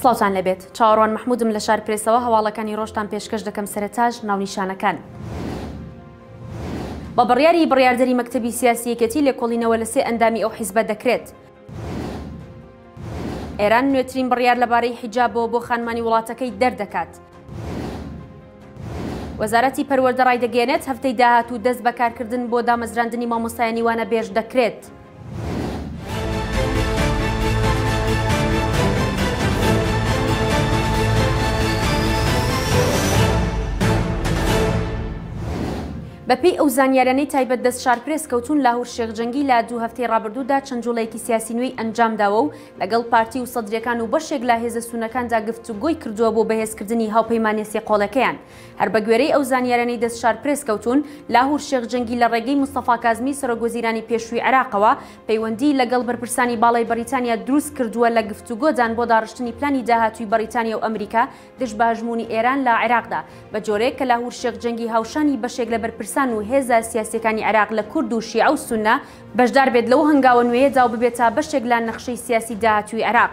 سڵاوتان لێبێت چاوەڕوان محمودم لە شار پرێسەوە هەواڵەکانی ڕۆژتان پێشکەش دەکەم سەرتاش ناونیشانەکان. بە بڕیاری بڕیاردەری مەکتەبی سیاسی یەکێتی لێکۆڵینەوە لە سێ ئەندامی ئەو حیزبە دەکرێت. ئێران نوێترین بڕیار لەبارەی حیجابەوە بۆ خانمانی وڵاتەکەی دەردەکات. وەزارەتی پەروەردە ڕایدەگەیەنێت هەفتەی داهاتوو دەست بە کارکردن بۆ دامەزراندنی مامۆستایانی وانەبێژ دەکرێت. بەپێی ئەو زانیارانەی تایبەت دەست شارپرێس کەوتون لاهور شێخ جەنگی لە دوو هەفتەی ڕابردوودا چەند جوڵەیەکی سیاسی نوێی ئەنجامداوە و لەگەڵ پارتی و سەدرەکان و بەشێک لە هێزە سونەکاندا گفتوگۆی کردووە بۆ بەهێزکردنی هاوپەیمانێ سێ قۆڵەکەیان هەر بەگوێرەی ئەو زانیاریانەی دەست شارپرێس کەوتوون، لاهور شێخ جەنگی لە ڕێگەی مستەفا کازمی سەرۆکوەزیرانی پێشووی عێراقەوە پەیوەندیی لەگەڵ بەرپرسانی باڵای بەڕیتانیا دروستکردووە لە گفتوگۆدان بۆ داڕشتنی پلانی داهاتووی بەڕیتانیا و ئەمریکا دژ بە هەژموونی ئێران لە عێراقدا بە جۆرێک کە لاهور شێخ جەنگی هاوشانی بەشێک لە بەرپرسان و هێزە سیاسییەکانی عێراق لە کورد و شیعە و سوننە بەشدار بێت لەو هەنگاوە نوێیەدا و ببێتە بەشێک لە نەخشەی سیاسی داهاتووی عێراق.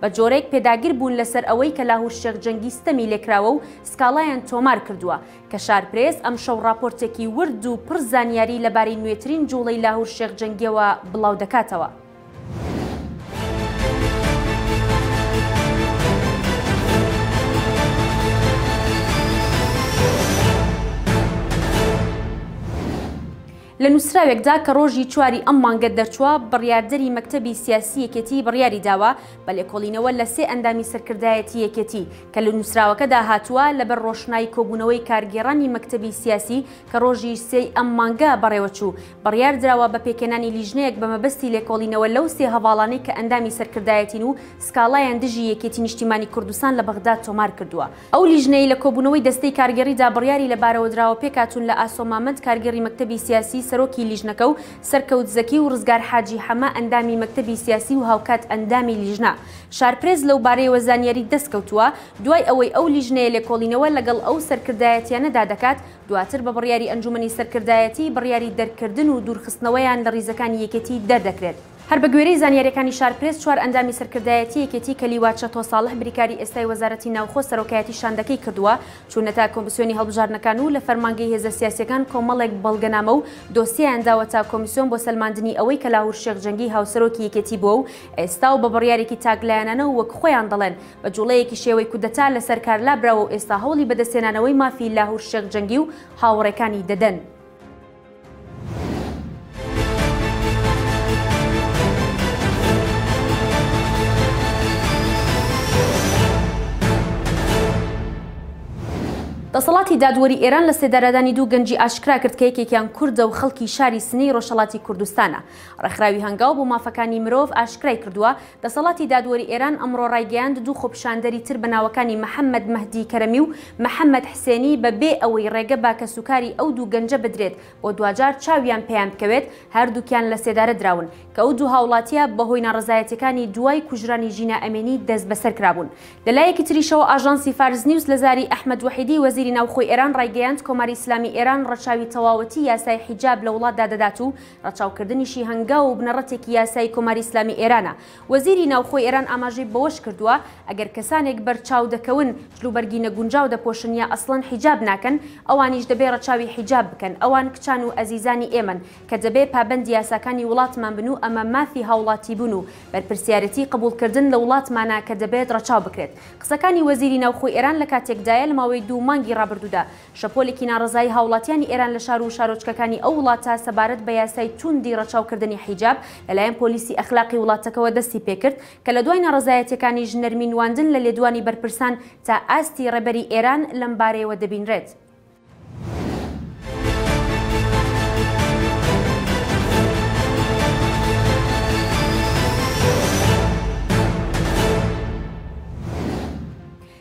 بە جۆرێک پێداگر بوون لەسەر ئەوەی کە لاهور شێخ جەنگی ستەمی لێکراوە و سکاڵایان تۆمار کردووە. کەشار پرێس ئەمشەو ڕاپۆرتێکی ورد و پڕ زانیاری لەبارەی نوێترین جووڵەی لاهور شێخ جەنگیەوە بڵاو دەکاتەوە. لە نووسراوێکدا کە ڕۆژی چواری ئەم مانگە دەرچووە، بڕیاردەری مەکتەبی سیاسی یەکێتی بڕیاری داوە بە لێکۆڵینەوە لە سێ ئەندامی سەرکردایەتی یەکێتی، کە لە نووسراوەکەدا هاتووە، لەبەر ڕۆشنای کۆبوونەوەی کارگێڕانی مەکتەبی سیاسی کە ڕۆژی سێی ئەم مانگە بەڕێوەچوو، بڕیار دراوە بە پێکهێنانی لیژنەیەک بە مەبەستی لێکۆڵینەوە لەو سێ هەڤاڵانەی کە ئەندامی سەرکردایەتین و سکاڵایان دژی یەکێتی نیشتیمانی کوردستان لە بەغداد تۆمار کردووە. ئەو لیژنەی لە کۆبوونەوەی دەستەی کارگێڕیدا بڕیاری لە بارەوەدراوە پێکهاتوون لە ئاسۆ مامەند کارگێڕی مەکتەبی سیاسی سەرۆکی لیژنەکە و سەرکەوت زەکی و ڕزگار حاجی حەمە ئەندامی مەکتەبی سیاسی و هاوکات ئەندامی لیژنە شارپرێس لەوبارەیەوە زانیاری دەستکەوتووە دوای ئەوەی ئەو لیژنەیە لێکۆڵینەوە لەگەڵ ئەو سەرکردایەتیانەدا دەکات دواتر بە بڕیاری ئەنجومەنی سەرکردایەتی بڕیاری دەرکردن و دوورخستنەوەیان لە ڕیزەکانی یەکێتی دەردەکرێت. هەر بەگوێرەی زانیارییەکانی شارپرێس، چوار ئەندامی سەرکردایەتی یەکێتی کە لیوا چەتۆ ساڵح بریکاری ئێستای وەزارەتی ناوخۆ سەرۆکایەتی شاندەکەی کردووە، چوونەتە کۆمسیۆنی هەڵبژاردنەکان و لە فەرمانگەی هێزە سیاسییەکان کۆمەڵێک بەڵگەنامە و دۆسیەیان داوەتە کۆمیسیۆن بۆ سەلماندنی ئەوەی کە لاهور شێخ جەنگی هاوسەرۆکی یەکێتی بووە و ئێستا و بە بڕیارێکی تاکلایەنانە و وەک خۆیان دەڵێن بە جوڵەیەکی شێوەی کودەتا لەسەر کار لابراوە و ئێستا هەوڵی بەدەستهێنانەوەی مافی لاهور شێخ جەنگی و هاوڕێکانی دەدەن. دەسەڵاتی دادوەری ئێران لە سێدارەدانی دوو گەنجی ئاشکرا کرد کە یەکێکیان کوردە و خەڵکی شاری سنەی ڕۆژهەڵاتی کوردستانە ڕێکخراوی هەنگاو بۆ مافەکانی مرۆڤ ئاشکرای کردووە دەسەڵاتی دادوەری ئێران ئەمڕۆ ڕایگەیاند دوو خۆپیشاندەری تر بە ناوەکانی محەممەد مەهدی کەرەمی و محەممەد حسێنی بە بێ ئەوەی ڕێگە بە کەسوکاری ئەو دوو گەنجە بدرێت بۆ دواجار چاویان پێیان بکەوێت هەردووکیان لە سێدارە دراون کە ئەو دوو هاوڵاتییە بە هۆی ناڕەزایەتیەکانی دوای کوژرانی ژینا ئەمینی دەست بەسەر کرابوون. لە لایەکی تریشەوە ئاژانسی فارس نیوز لە زاری ئەحمەد وەحیدی وەزیری ناوخۆی ئێران ڕایگەیاند کۆماری ئیسلامی ئێران ڕەچاوی تەواوەتی یاسای حیجاب لە وڵاتدا دەدات و ڕەچاوکردنیشی هەنگاو و بنەڕەتێکی یاسایی کۆماری ئیسلامی ئێرانە. وەزیری ناوخۆی ئێران ئاماژەی بەوەش کردووە، ئەگەر کەسانێک بەرچاو دەکەون، جلوبەرگی نەگونجاو دەپۆشن یا ئەسڵەن حیجاب ناکەن، ئەوانیش دەبێ ڕەچاوی حیجاب بکەن، ئەوان کچان و ئەزیزانی ئێمەن کە دەبێ پابەندی یاساکانی وڵاتمان بن و ئەمە مافی هاوڵاتیبوون و بەرپرسیارێتی قبوڵکردن لە وڵاتمانە کە دەبێت ڕەچاو بکرێت. قسەکانی وەزیری ناوخۆی ئێران لە کاتێکدایە لە ماوەی دوو مانگی ڕابردوودا شەپۆلێکی ناڕەزایی هاوڵاتیانی ئێران لە شار و شارۆچکەکانی ئەو وڵاتە سەبارەت بە یاسای تووندی ڕەچاوکردنی حیجاب لەلایەن پۆلیسی ئەخلاقی وڵاتەکەوە دەستی پێکرد کە لە دوای ناڕەزایەتیەکانیش نەرمی نواندن لە لێدوانی بەرپرسان تا ئاستی ڕێبەری ئێران لەم بارەیەوە دەبینرێت.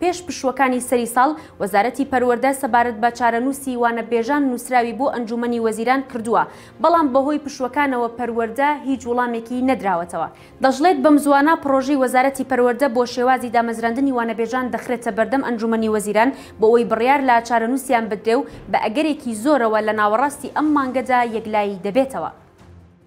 پێش پشووەکانی سەری ساڵ، وەزارەتی پەروەردە سەبارەت بە چارەنووسی وانەبێژان نووسراوی بۆ ئەنجوومەنی وەزیران کردووە، بەڵام بەهۆی پشووەکانەوە پەروەردە هیچ وڵامێکی نەدراوەتەوە. دەشڵێت، بەمزووانە پڕۆژەی وەزارەتی پەروەردە بۆ شێوازی دامەزراندنی وانەبێژان دەخرێتە بەردەم ئەنجوومەنی وەزیران بۆئەوەی بڕیار لە چارەنووسیان بدرێ و بە ئەگەرێکی زۆرەوە لە ناوەڕاستی ئەم مانگەدا یەکلایی دەبێتەوە.